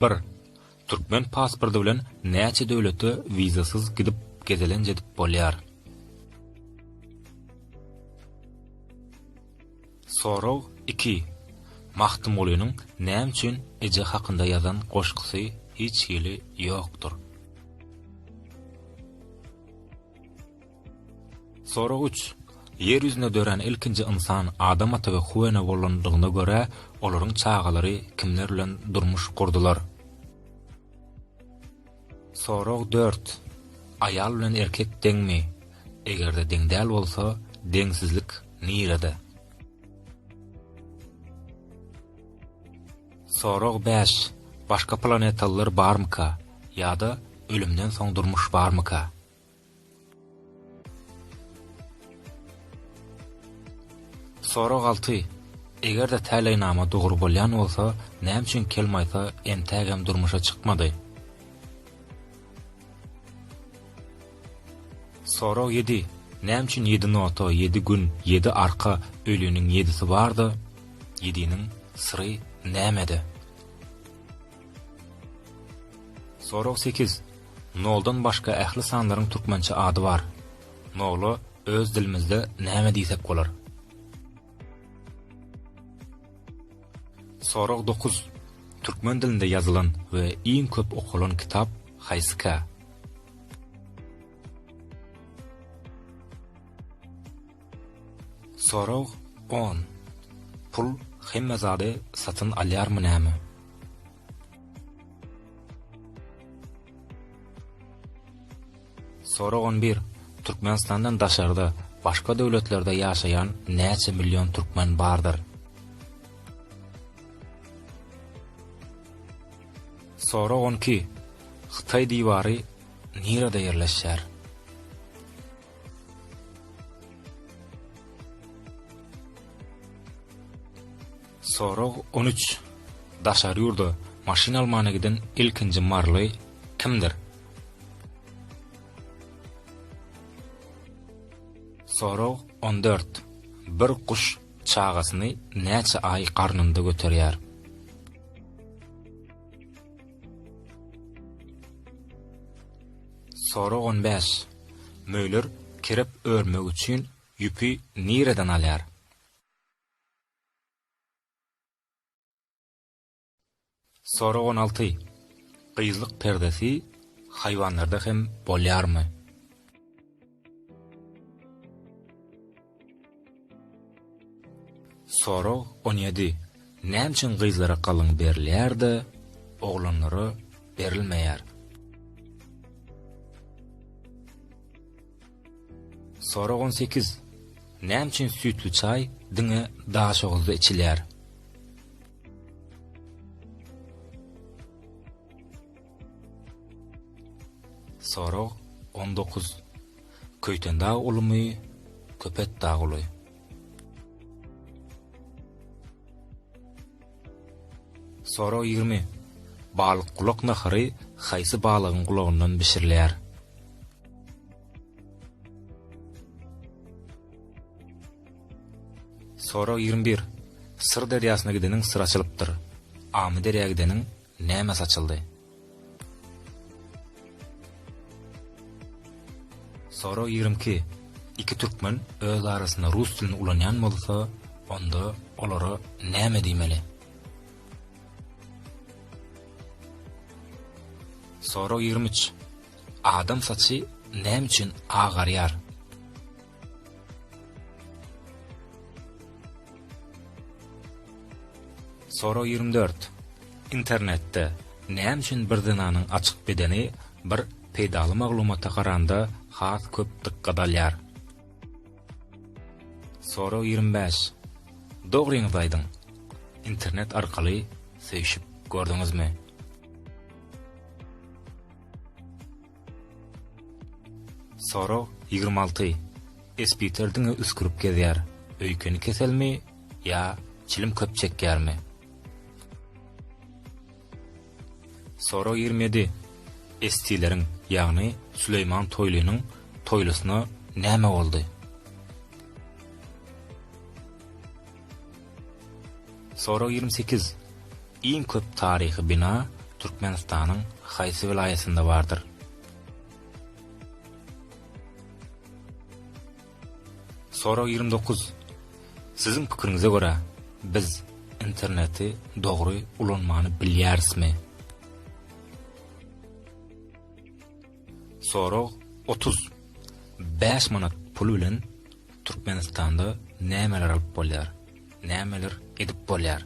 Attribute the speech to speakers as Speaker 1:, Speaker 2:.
Speaker 1: Bir, Türkmen pasporty bilen näçe döwlete wizasyz gidip gezelenç edip bolýar? Sorag iki, Magtymgulynyň näme üçin eje hakynda ýazan goşgusy hiç hili ýokdur? Sorag üç. Ýer ýüzünde dörän ilkinji ynsan Adam ata we Huwa ene bolandygyna görä, olaryň çagalary kimler bilen durmuş gurdular? Sorag dört. Aýal bilen erkek deňmi? Eger-de deň däl bolsa, deňsizlik nirede? Sorag bäş. Başga planetalylar barmyka? Ýa-da ölümden soň durmuş barmyka? Sorag alty, Eger-de täleýnama dogry bolýan bolsa, näme üçin Kelmaýsa entägem durmuşa çykmady? Sorag ýedi, Näme üçin ýedi nota, ýedi gün, ýedi arka, öliniň ýedisi bar-da, ýediniň syry nämede? Sorag sekiz, Noldan başga ähli sanlaryň türkmençe ady bar. Nola öz dilimizde näme diýsek bolar? Sorag dokuz. Türkmen dilinde ýazylan we iň köp okalan kitap haýsyka? Sorag on. Pul hemme zady satyn alýarmy näme? Sorag on bir, Türkmenistandan daşarda, başga döwletlerde ýaşaýan näçe million türkmen bardyr? Sorag on iki, Hytaý diwary nirede ýerleşýär? Sorag on üç. Daşary ýurda maşyn almana giden ilkinji maryly kimdir? Sorag on dört. Bir guş çagasyny näçe aý garnynda göterýär? Sorag on bäş. Möýler kerep örmek üçin ýüpi nireden alýar? Sorag on alty. Gyzlyk perdesi haýwanlarda hem bolýarmy? Sorag on ýedi, Näme üçin gyzlara galyň berilýär-de, oglanlara berilmeýär? Sorag on sekiz, Näme üçin süýtli çaý diňe Daşoguzda içilýär? Sorag on dokuz, Köýtendag ulumy, Köpetdag uly. Sorag ýigrimi. Balykgulak nahary haýsy balygyň gulagyndan bişirilýär? Sorag ýigrimi bir. Syr derýasyna gideniň syr açylypdyr. Amyderýa gideniň näme saçyldy? Sorag ýigrimi iki, Iki türkmen öz arasynda rus dilini ulanýan bolsa, onda olara näme diýmeli? Sorag ýigrimi üç, Adam saçy näme üçin agarýar? Sorag ýigrimi dört. Internetde näme üçin bir zenanyň açyk bedeni bir peýdaly maglumata garanda has köp dykgat alýar? Sorag ýigrimi bäş. Dogryňyzy aýdyň. Internet arkaly söýşüp gördüňizmi? Sorag ýigrimi alty, Esbiter diňe üsgürip gezýär, öýkeni keselmi ýa çilim köp çekýärmi? Sorag ýigrimi ýedi, Estileriň, ýagny Süleýman Toýlynyň toýlusyna näme boldy? Sorag ýigrimi sekiz. Iň köp taryhy bina Türkmenistanyň haýsy welaýatynda bardyr? Sorag ýigrimi dokuz. Siziň pikiriňize görä, biz interneti dogry ulanmany bilýärismi? Sorag otuz. Bäş manat pul bilen Türkmenistanda nämeler alyp bolýar? Nämeler edip bolýar?